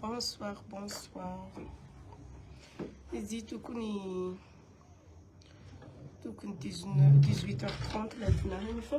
Bonsoir, bonsoir. Izy tokony tokony 18h30 ilay dinarany fa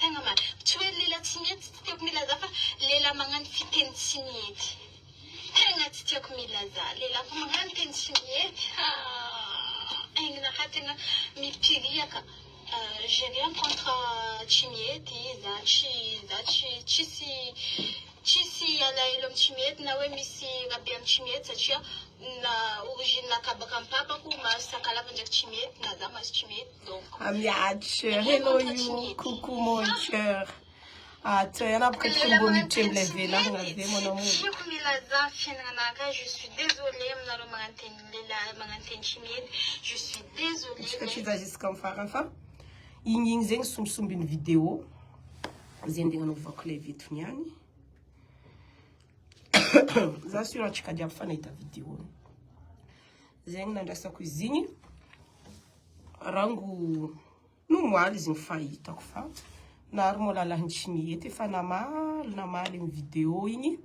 Tegna marina. Tsy hoe lehilahy tsy mety tsy tiako milaza fa lehilahy magnano fiteny tsy mety. Tegna tsy tiako milaza. Lehilahy koa magnano teny tsy mety ah aigny naraha tegna mipiriaka j'ai rien contre tsy mety za tsy za tsy tsisy tsisy alahelo am tsy mety na hoe misy rabe am tsy mety satria na origine-naka baka am papako mahazo sakalava ndraiky tsy mety na za mahazo tsy mety. Miady hello io coucou mon cœur ato yana boka tsy mbo miditra ilay velana be mon amour tiako milaza fiainana ka je suis désolé aminareo magnanteny lehilahy magnanteny chinedy je suis désolé tsika tsy za jusqu'à am farany fa igny igny zegny sombisombiny vidéo zay ndeha nanaovako ilay vitony ihany za sur antsika jiaby fa nahita vidéo zegny nandraisako izy igny Rango nomoaly izy ny fahitako fa nary molalahiny tsy mihety efa namaly namaly ny vidéo igny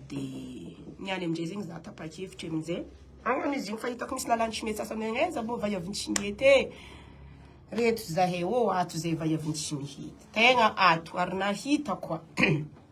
dia ny any amin'izay zegny za tapa-kevitra amin'izay agnano izy igny fa hitako misy lalàny tsy mihety sasany agny aiza moa vaiaviny tsy mihety e reto zahay ô ato zay vaiaviny tsy mihety tegna ato ary nahita koa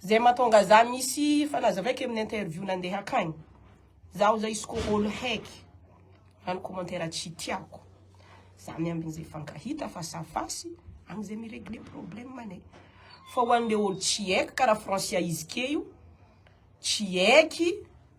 Zay matonga za misy fanazava eky amin'ny interview nandeha akagny. Zaho zao izy ko olo heky magnano commentaire tsy tiako. Za miambigny ze fankahita face à face agny ze mi-regler problème ane. Fa ho anle olo tsy heky kara Francia izy ke io tsy heky.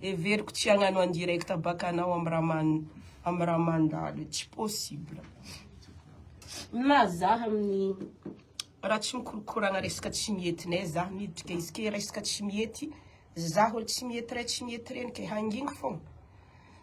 Heveriko tsy hagnano en direct baka anao am raman am ramandalo tsy possible. Milaza zah amin'ny raha tsy mikorokoragna resaka tsy mietinay zah miditry kay izy ke resaka tsy miety zah olo tsy miety ray tsy miety reny kay hangingo fôgna.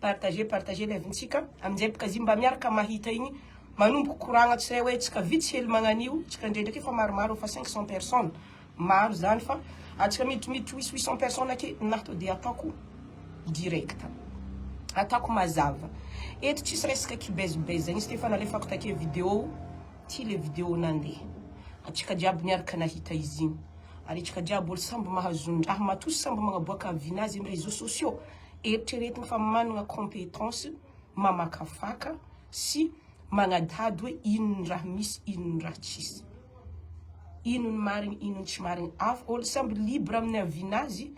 Partagez partagez live ntsika aminjay bkz mba miaraka mahita igny manomboka koragna tsy ray oe tsika vitsy hely magnanio tsika ndray ndraiky efa maromaro efa cinq cent personne maro zany fa atsika miditry miditry huit huit cent personne ake na to de ataoko directe ataoko mazava eto tsisy resaka kibez bez zegny izy ty efa nalefako take video ty le video nande atsika jiaby niaraka nahita izy igny ary atsika jiaby olo samby mahazo ndraha matoa samby magnaboaka vinazy am reseau sociaux Eritreretina fa manana compétence mamakafaka sy magnadahdy hoe inona ny raha misy, inona ny raha tsisy. Inona ny marigny, inona ny tsy marigny. Afo olo samby libre amin'ny avis-ny azy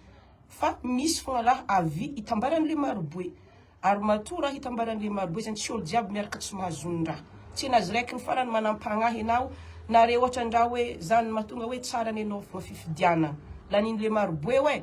fa misy fogna raha avis itambaran'le maroboe. Ary matoa raha itambaran'le maroboe zany tsy olo jiaby miaraka tsy mahazo ny raha. Tsy anazy raiky ny farany manampagnahy anao na re ohatra ny raha hoe zany mahatonga hoe tsara ny anao fogna fifidianagna. Lanin'le maroboe hoe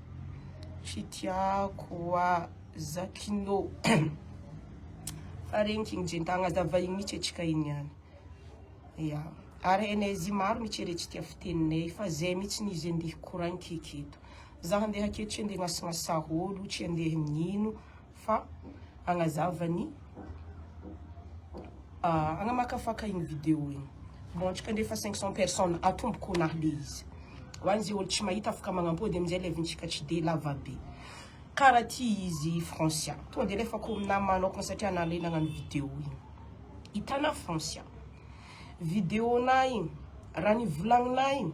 Fitiako a Zakino fa regny king jentagna aza vahiny mitsy atsika igny ihany ya ary hainay zy maro mitsy re tsy tia fiteninay fa zay mitsy ny izy ndeha korainkeky eto za handeha aketo tsy handeha gnasagnasaha olo tsy handeha nino fa agnazava ny agnamakafaka igny video igny. Bon, antsika ndefa 500 personnes atomboko ho nahy le izy. Ho an'izay olo tsy mahita afaka magnam-pody amin'izay live-ntsika tsy dia lava be. Kara ty izy Francia. Tonga dia alefako aminà manokana satria anà le nagnano video igny. Hitanà Francia. Video-nà igny, raha ny volagninà igny.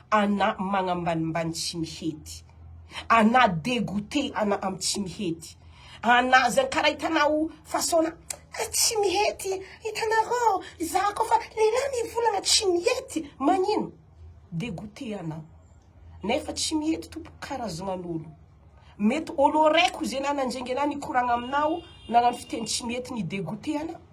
Ana magnambanimbany tsy mihety. Ana degoute ana am tsy mihety. Ana zany kara hitanao façon na ah tsy mihety hitanareo za ko fa lehilahy mivolagna tsy mihety magnino degoute ana nefa tsy mihety tompoko karazagnan'olo mety olo araiky ozy ana nandrenge ana nikoragna aminao nagnano fiteny tsy mihety ni degoute ana.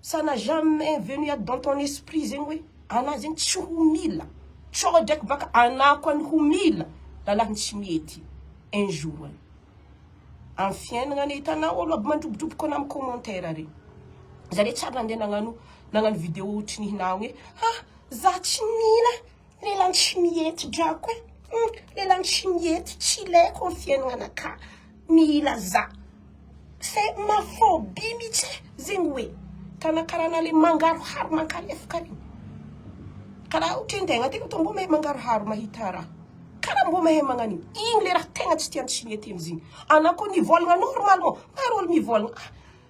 Ça n'a jamais venu à dans ton esprit zegny hoe anah zegny tsy ho mila, sao draiky baka anah koa ny ho mila lalahy ny tsy mety un jour any am fiainagna any, hitanao olo aby mandrobodroboka anah am commentaire reny, za re tsy ary nandeha nagnano nagnano vidéo otrinihinah hoe ha zah tsy mila Lelany tsy mihety drako e! Hum, lelany tsy mihety, tsy ilaiko ny fiainananakà, mila za. C'est ma phobie mihitsy e! zegny hoe tana karaha ana le mangaroharo mankalefoka regny. Karaha ohatra hoe ndeha agnaty loto mbô mahay mangaroharo mahita raha. Karaha mbô mahay magnano igny. Igny le raha tegna tsy tiany tsy mety amizigny. Ana koa nivôlagna normalement, maro olo mivôlagna.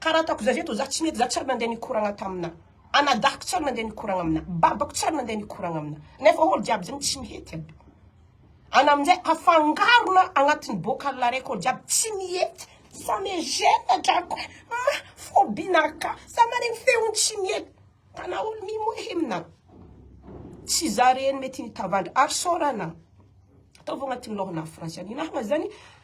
Ka raha ataoko zay zay to za tsy mety za tsary nandeha nikoragna tamina anadahiko tsary nandeha nikoragna amina babako tsary nandeha nikoragna amina nefa olo jiaby zegny tsy mihety aby ana amizay afangarona agnatiny bocal raiky olo jiaby tsy mihety ça me gene drako e ma phobie na ka za maregny feony tsy mihety tana olo mimohy amina tsy za reny mety nitavandra ary sôra ana ataovy agnatiny lôhana afo raha tsy anina ana zany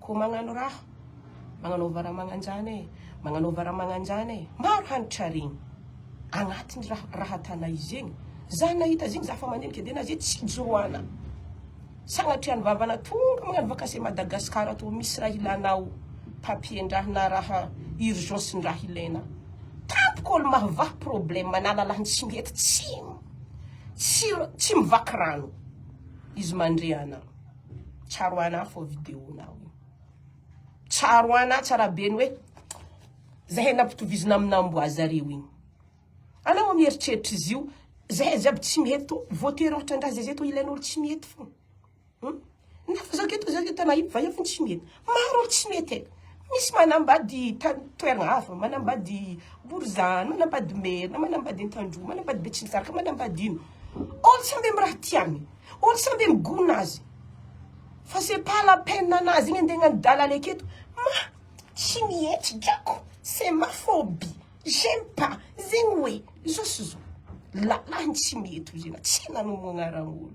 Koa magnano raha magnanaova raha magnanjany e, magnanaova raha magnanjany e, maro hanitra regny agnatiny raha raha tana izy egny, za nahita zegny za fa mandinika de na ze tsy ijoroana, sagnatria ny vavana tonga magnano vakansy Madagascar tô misy raha ilanao papier ndraha na raha urgence ndraha ilaina, tampoka olo mahavaha problème na lalany tsy mety tsy tsy tsy mivaky rano izy mandre ana. Tsaro ana fô vidéo nao io. Tsaro ana tsara be ny hoe zahay nampitovizina amina amboa zareo igny. Anao amy eritreritra izy io, zahay jiaby tsy mety tô, voatery ôhatra angaha zay zay tô ilain'olo tsy mety fô. Hum? Nefa zah keto zah keto tena io, fa io fô tsy mety. Maro ny tsy mety e! Misy manambady tany toerana hafa, manambady Borizano, manambady Merina, manambady Antandroy, manambady Betsimisaraka, manambady ino. Olo sambe am raha tiany, olo sambe migona azy. Fa c'est pas la peine anazy igny ande agnano dalala eketo. Mah! Tsy mihetsy drako, c'est ma phobie, j'aime pas, zegny hoe, zao sy zao. Lalàny tsy mety hoy zegny, tsy nanomboagna raha olo.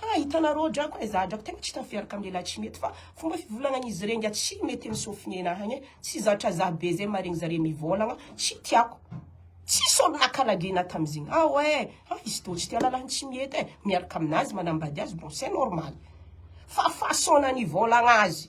Ha hitanareo drako e, za drako tegna tsy tafiaraka am lehilahy tsy mety fa fomba fivolagnan'izy rey ngiahy tsy mety am sofine nahy agny e, tsy zatra za be zay maregny zare mivolagna tsy tiako, tsisy olo nakalagy nahy tamzigny ao e, ha izy tô tsy tia lalah tsy mety e, miaraka aminazy manambady azy bon c'est normal fa façon-na nivolagna azy.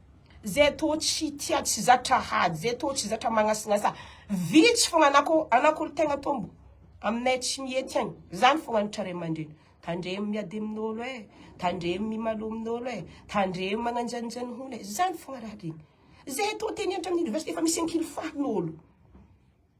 Zay tô tsy tia tsy zatra hady zay tô tsy zatra magnasinasa vitsy fogna anako anako olo tegna tombo aminay tsy mihety any zany fogna nitra ray amandreny tandremo miady aminolo eh tandremo mimalo aminolo eh tandremo magnanjanjany hony eh zany fogna raha regny zay tô te mianatra amin'ny université fa misy ankily fahanolo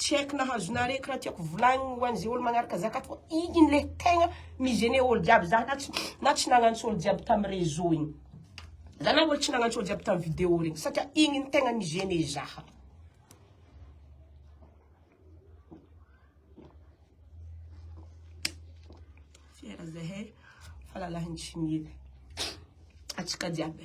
Tsy haiko nahazonareo eky raha tiako volagniny ho an'izay olo magnaraka zakat fa igny le tegna mi-gêné olo jiaby za na tsy na tsy nagnantso olo jiaby tamin'ny réseau igny. Za na olo tsy nagnantso olo jiaby tamin'ny vidéo regny satria igny no tegna mi-gêné zaha. Fiera zahay fa lalahin'ny tsy mila antsika jiaby.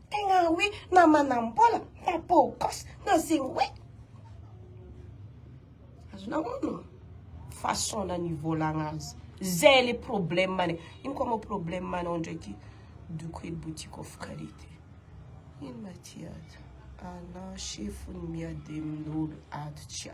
Tegna hoe na manambola na beau gosse na zegny hoe. Azonao onony ô? Façon-nany ivolagna azy. Zay le problème-ny. Ino koa moa problème-nao ndraiky doko e boutique of karity. Ino ma ty ato? Anao chef-ny miady amin'olo ato tsia.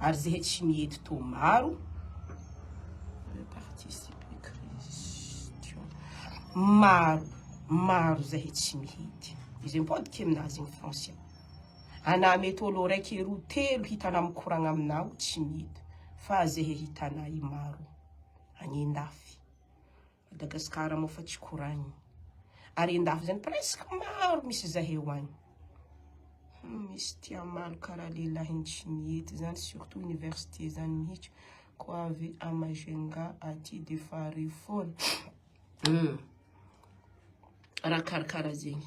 ary zehe tsy miety toa maro maro maro zahe tsy mihety izay mipodika aminazy ny français ana mety olo raiky roa telo hitana mikoragna aminao tsy mihety fa zehe hitanay maro any andafy Madagascar moa fa tsy koragny ary andafy zany presque maro misy zahay ho any hum misy tia maro karaha lelahiny tsy mihety zany surtout université zany mihitsy ko avy a majunga aty de fahare foana hum raha karakara zegny.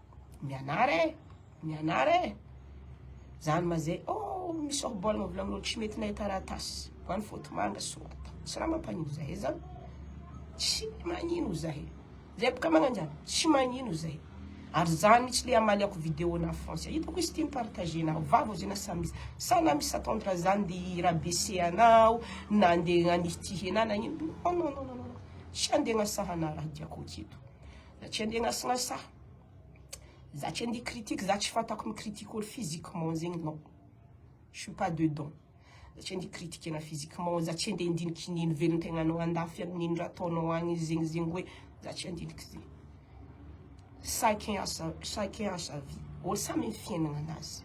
mianara e mianara e zany ma zay oh misy orboly mavolagnin'olo tsy mety nahay taratasy fa ny foty manga sorata tsy raha mampanino zahay zany tsy magnino zahay zay boka magnano zany tsy magnino zahay ary zany mihitsy le amaly ako vidéo na français hitako izy tia mipartager nao vavo zay na samy izy sa na misy attendre zany de rabese anao na nde nanitihy anao nagnino non non non non non tsy andeha agnasaha anao raha diako aketo Za tsy andeha anasinasa. Za tsy andeha critique, za tsy fantako mi critique olo physiquement zegny non. Je suis pas dedans. Za tsy andeha critique ana physiquement, za tsy andeha handiniky ny nivelon-tegnanao andafy agny, nino raha ataonao agny zegny zegny hoe za tsy andiniky zegny. Chacun a sa chacun a sa vie. Olo samy am fiaignana anazy.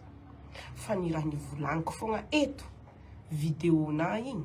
Fa ny raha nivolagniko fogna eto, video-nah igny,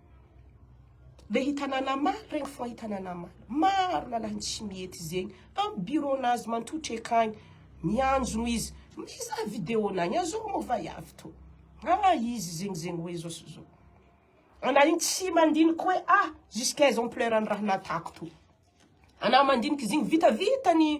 Le hitanana maro regny fo hitanana maro. Maro lalahy ny tsy mety zegny. Am bureau nazy mantotry akagny, mianjogno izy. Mizaha video nagny, azoko mo va avy to. Aa izy zegny zegny hoe zao sy zao. Ana igny tsy mandiniky hoe a jusqu'à exemplaire ny raha natako to. Ana mandiniky izy igny vitavita ny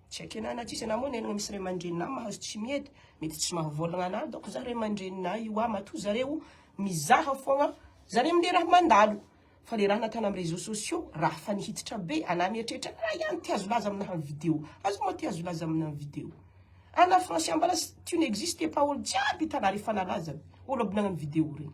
Tsy ekena na tsisy anah moa nenina misy ray aman-dreninah mahazo tsy miedy, mety tsy mahavoalagna anah dônko zah ray aman-dreninah io hoa matoa zareo mizaha fôgna zare amle raha mandalo fa le raha natana am réseaux sociaux raha fa nihititra be anah mieritreritra raha ihany te azo laza aminah am video aza moa te azo laza aminah am video anah franse ambala tu n'existes pas olo jiaby hitanah refa nalaza olo aby nagnano video regny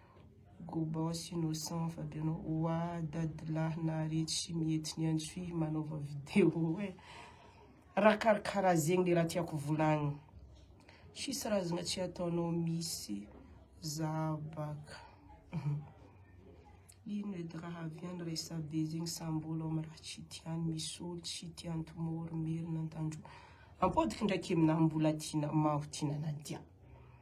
Gobos innocent fa be anao oa dadilahy naharetsy sy miety ny antsoy manaova vidéo e Raha karakara zegny le raha tiako volagny Tsisy razagna tsy ataonao misy za baka Ino edy raha avy any resabe zegny sa mbolo am raha tsy tiany misy olo tsy tiany tomorrow merina an-tandroy Ampodiky ndraiky e na mbola tiana maho tiana Nadia.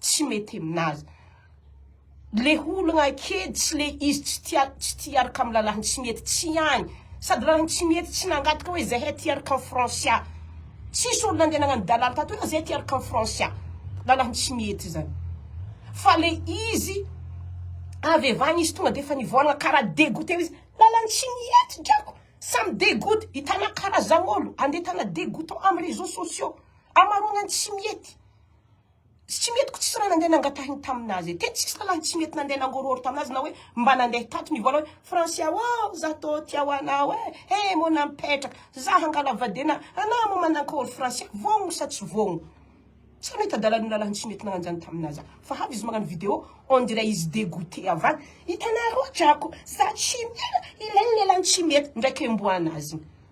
tsy mety aminazy le hologna ake tsy le izy tsy tia tsy tia hiaraka amin'ny lalahiny tsy mety tsy ihany sady lalahiny tsy mety tsy nangataka hoe zahay tia hiaraka amin'ny francia tsisy olo nandeha nagnano dalala tato hoe zahay tia hiaraka amin'ny francia lalahiny tsy mety zany fa le izy avy avy any izy tonga defa nivoanagna karaha degoute izy lalany tsy mety drako samy degoute hitana karaha zao olo andeha hitana degoute amin'ny réseau sociaux amarogna ny tsy mety Tsy mety ko tsisy raha nandeha nangatahiny taminazy e! Tena tsisy rahalahy tsy mety nandeha nangororo taminazy na hoe mba nandeha tato nivôla hoe Francia ô! Za tô tia ho anao e! He mô na mipetraka za hangala vadiana anao mô manankory Francia vôgno sa tsy vôgno? Tsy nahita dalan'io lalan'ny tsy mety nagnano zany taminazy za fa avy izy magnano video on dirait izy degoute avy any hitanarô drako za tsy mila ilay lelan'ny tsy mety ndraiky emboanazigny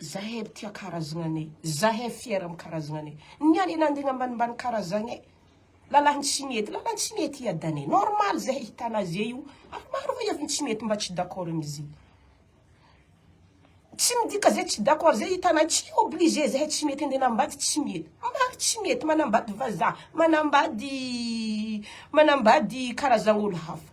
Zahay aby tia karazagnanay, zahay fier am karazagnanay, ny any nandigny ambanimbany karazagnay, lalany tsy mety, lalany tsy mety i Adaney, normal zahay hitana azy eo io, ary maro ny heviny tsy mety mba tsy d'accord am izy, tsy midika zay tsy d'accord zay hitanay, tsy obligé zahay tsy mety andeha anambady tsy mety, maro tsy mety manambady vazaha, manambady manambady karazan'olo hafa.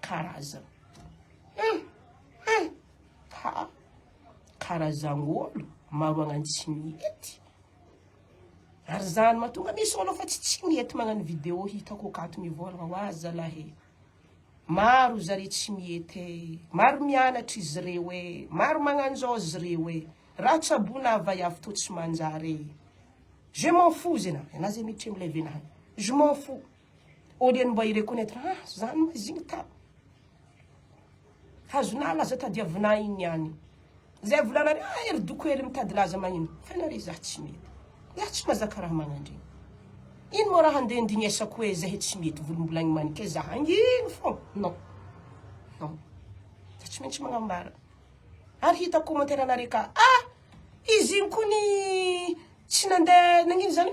Karazana. Hum! Hum! Ha! Karazan'olo maroagnany tsy mety. Ary zany matonga misy olo fa tsy tsy mety magnano vidéo hitako akato mivolagna hoa zalahy e. Maro zare tsy mety e. Maro mianatra izy reo e. Maro magnanzao izy reo e. Raha tsabona avay avy to tsy manjary e. Je m'en fous zay na, na zay mitremble venahana. Je m'en fous. Au lieu ny mba hi-reconnaitre, ha zany moa izy igny tao. Hazonao laza tadiavinao igny ihany. Zay volanareo, ah ery doko ery mitady laza magnino. Fa nareo za tsy mety. Za tsy mazaka raha magnandregny. Ino moa raha handeha ndignesako hoe zahe tsy mety volombolagny manike za hangino fô. Non. Non. Za tsy maintsy magnambara. Ary hitako commentaire anareo ka, ah izy igny kony tsy nandeha nagnino zany?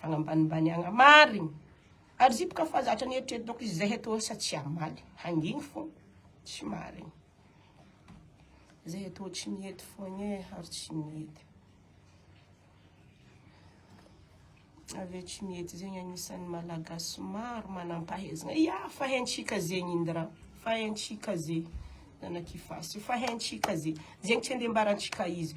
Fagnambanimbaniagna marigny. Ary zipy ka fa zatra nieritreritako izy zay etoa sa tsy hamaly. Hangigny fô tsy marigny. Zay etoa tsy mety foagna e, ary tsy mety. Avy eo tsy mety zegny agnisan'ny malagasy maro manam-pahaizagna. Ia, fa haintsika zegny Indra, fa haintsika zegny. Zanak'i Fasy, fa haintsika zegny. Zegny tsy andeha ambarantsika izy.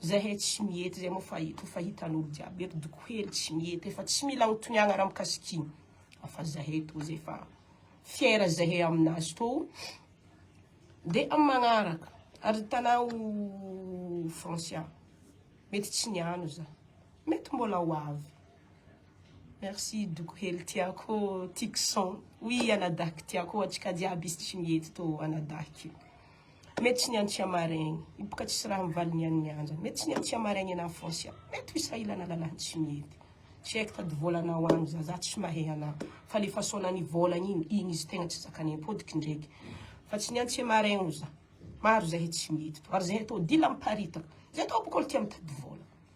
Zahay tsy miety zay moa fa eto efa hitan'olo jiaby eto doko hely tsy miety efa tsy mila anontoniagna raha mikasik'igny fa zahay to zay fa fiera zahay aminazy to de am magnaraka ary tanao Francia mety tsy niano za mety mbola ho avy merci doko hely tiako tiko son oui anadahy ko tiako antsika jiaby izy tsy miety to anadahy. Mety tsy niany tsy hamaraigny. Io boka tsisy raha mivaly ny an'ny anjany. Mety tsy niany tsy hamaraigny en enfance an. Mety ho sahilana lalany tsy mety. Tsy haiko tady vôlanao agny za, za tsy mahay anao. Fa le façon nany vôlagna igny, igny izy tegna tsy zakanay am-pôdiky ndreky. Fa tsy niany tsy hamaraigny oza. Maro zahay tsy mety. Ary zahay tô dila miparitaka. Zahay tô boka olo tia mitady vôla.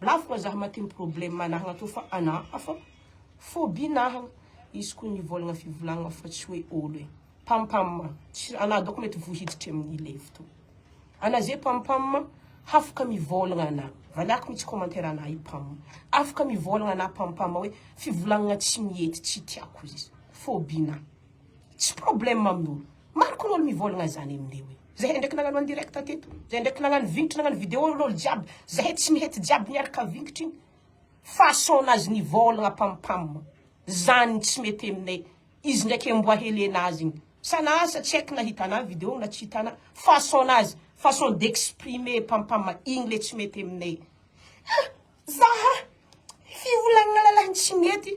Lafo ka zah maty ny problème manahagna tô fa ana hafa phobie nahagna izy ko nivolagna fivolagna fa tsy hoe olo e pam pam tsy ana dôko mety vohiditry aminy levy tô ana ze pam pam hafaka mivolagna ana valiako mitsy commentaire ana i pam afaka mivolagna ana pam pam hoe fivolagna tsy miety tsy tiako izy phobie na tsy problème aminolo maro ko olo mivolagna zany amine hoe. Zahay ndraiky nagnano en direct teto. Zahay ndraiky nagnano vignitry nagnano vidéo lolo jiaby. Zahay tsy mihety jiaby miaraka vignitry igny. Façon nazy nivôlagna pam pam. Zany tsy mety aminay. Izy ndraiky amboa hely nazy igny. Sanaa sa tsy haiko na hitanao vidéo na tsy hitanao. Façon nazy, façon d'exprimer pam pam igny le tsy mety aminay. Hah! Zaha! Fivolagnana lahy tsy mety.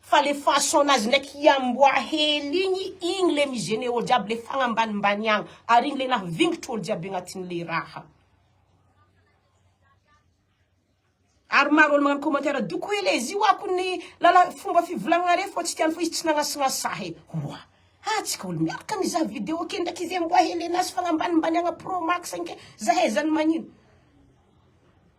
Fa le façon nazy ndraiky hiamboha hely igny, igny le mi gene olo jiaby le fagnambanimbany agny, ary igny le naha vingitry olo jiaby agnatin le raha. Ary maro olo magnano commentaire doko hoe le zio ako ny lala fomba fivolagnare fô tsy tiany fô izy tsy nagnasignasaha e. Oa ha tsika olo miaraka mizaha video ke ndraiky izy amboa hely anazy fagnambanimbaniagna pro max anke zahay zany magnino.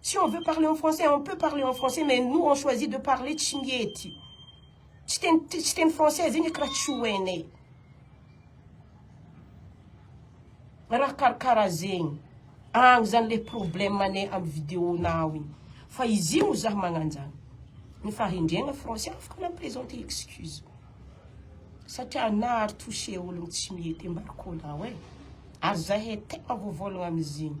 Si on veut parler en français on peut parler en français mais nous on choisit de parler tsy mety tsy teny tsy teny français zegny eky raha tsy ho hainay raha karakara zegny agny zany le problème anay amy vidéo nao igny fa izy igny zah magnanjany ny fahendrena français afaka na présenter excuse satria nahary touché ologno tsy mety embarco nao e ary zahay tegna voavôlagna amizigny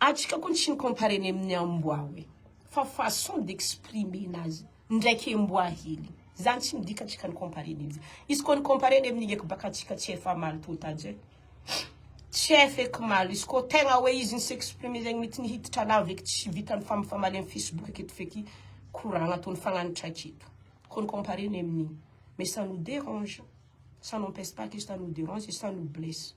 Atsika koa tsy ni-comparer-ny amin'ny amboa hoe fa façon d'exprimer-na azy ndraiky emboa hely zany tsy midika atsika ni-comparer-ny azy izy koa ni-comparer-ny amin'ny eky baka atsika tsy efa mali-pota je tsy efa eky maly izy koa tegna hoe izy ni-s'exprimer zegny mety ni-hiditra lava eky tsy vitan'ny fami-famaly amin'ny facebook aketo feky koragna atao nifagnanitra aketo koa ni-comparer-ny amin'ny mais ça nous dérange ça n'empêche pas que ça nous dérange et ça nous blesse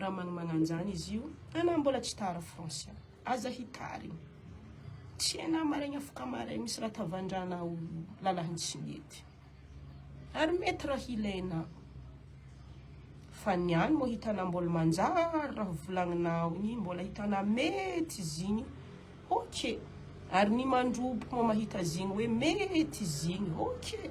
Raha manomana an'izany izy io, anà mbola tsy tara français. Aza hitarina. Tsy anà maraigny afaka maraigny misy raha tavandrana ho lalàny tsy mety. Ary mety raha hilainao. Fa ny any moa hitanà mbola manjary raha volagninao igny, mbola hitanà mety izy igny, ok. Ary ny mandrobo moa mahita azy igny hoe mety izy igny, ok.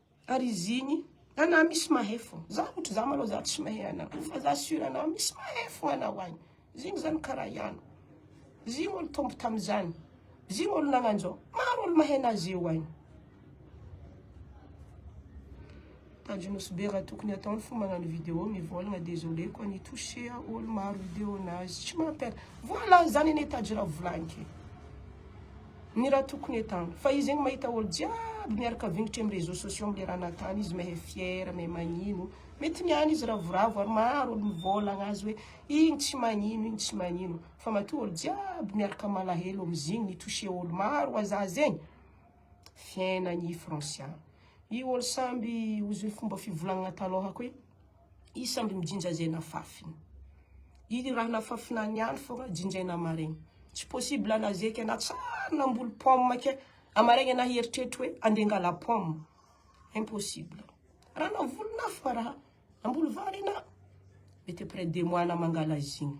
Ary izy igny, ana misy mahay fô, za ôtry za malô za tsy mahay ana, fa za sur ana misy mahay fô ana oay, izy igny zany kara iany, izy igny olo tombo tamizany, izy igny olo nagnanzô, maro olo mahay ana zeo oay. Tanjy Nosy be raha tokony ataony fô magnano vidéo mivôlagna désolé koa ny toucher olo maro vidéo nazy tsy mampiala, voila zany anie Tanjy raha volagniko e. Ny raha tokony hetahana. Fa izy egny mahita olo jiaby miaraka vingitra amy réseaux sociaux amle raha natany izy mehe fier mehe magnino. Mety ny any izy ravoravo ary maro olo mivolagna azy hoe igny tsy magnino igny tsy magnino. Fa matoa olo jiaby miaraka malahelo amzigny mi toucher olo maro waza zegny. Fiainagny i Francia. I olo samby ozy fomba fivolagnana taloha koa i. isangy mijinja zay nafafiny. Iny raha nafafina any ihany fogna jinjaina maraigna. Tsy possible na zay kay na tsary namboly pomme kay amaraigna anah hieritreritra hoe ande hangala pomme. Impossible. Raha navolinah fogna raha namboly vary anah mety après deux mois anah mangala azy igny.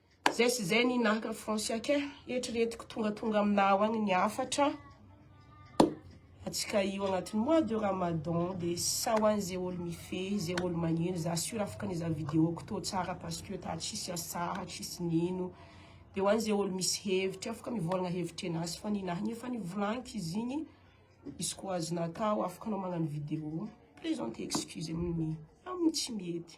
Zay sy zay ny naka Fransiaka eh. Eritreretiko tonga tonga aminah ao agny ny hafatra. Atsika io agnatin'ny mois de Ramadan de sa ho an'ny zay olo mifehy, zay olo magnino, za sur afaka nizaha vidéo-ko tô tsara parce que ta tsisy asaha, tsisy nino. De ho an'izay olo misy hevitry afaka mivolagna hevitry anazy fa ny nahy efa nivolagniko izy igny, izy koa azonao atao afaka anao magnano vidéo. Présente excuse amin'ny amin'ny tsy mety.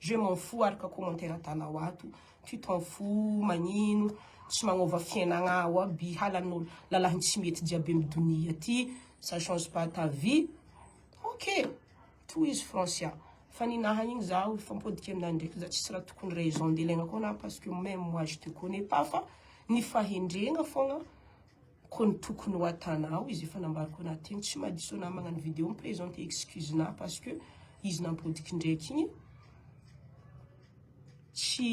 Je m'en fous araka commentaire atanao ato tu t'en fous magnino tsy magnova fiainagna ao aby halanao lalahy tsy mety jiaby amy donia ty ça change pas ta vie ok tohizo Francia fa ninaha igny zaho hifampodiky aminao ndraiky za tsisy raha tokony raison ndeha ilaigna koa anah parce que même moi je te connais pas fa ny fahendregna fôgna Ko ny tokony ho atanao izy efa nambariko anah teny tsy madiso anah magnano video mi presenter excuse nah parce que izy nampodiky ndraiky igny tsy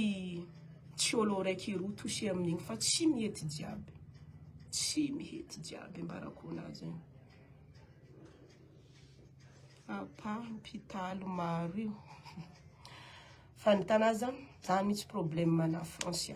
tsy olo raiky roa touché amin'igny fa tsy mihety jiaby tsy mihety jiaby ambarako anah zegny apa mpitalo maro io fa ny tana zany zany mitsy problème na français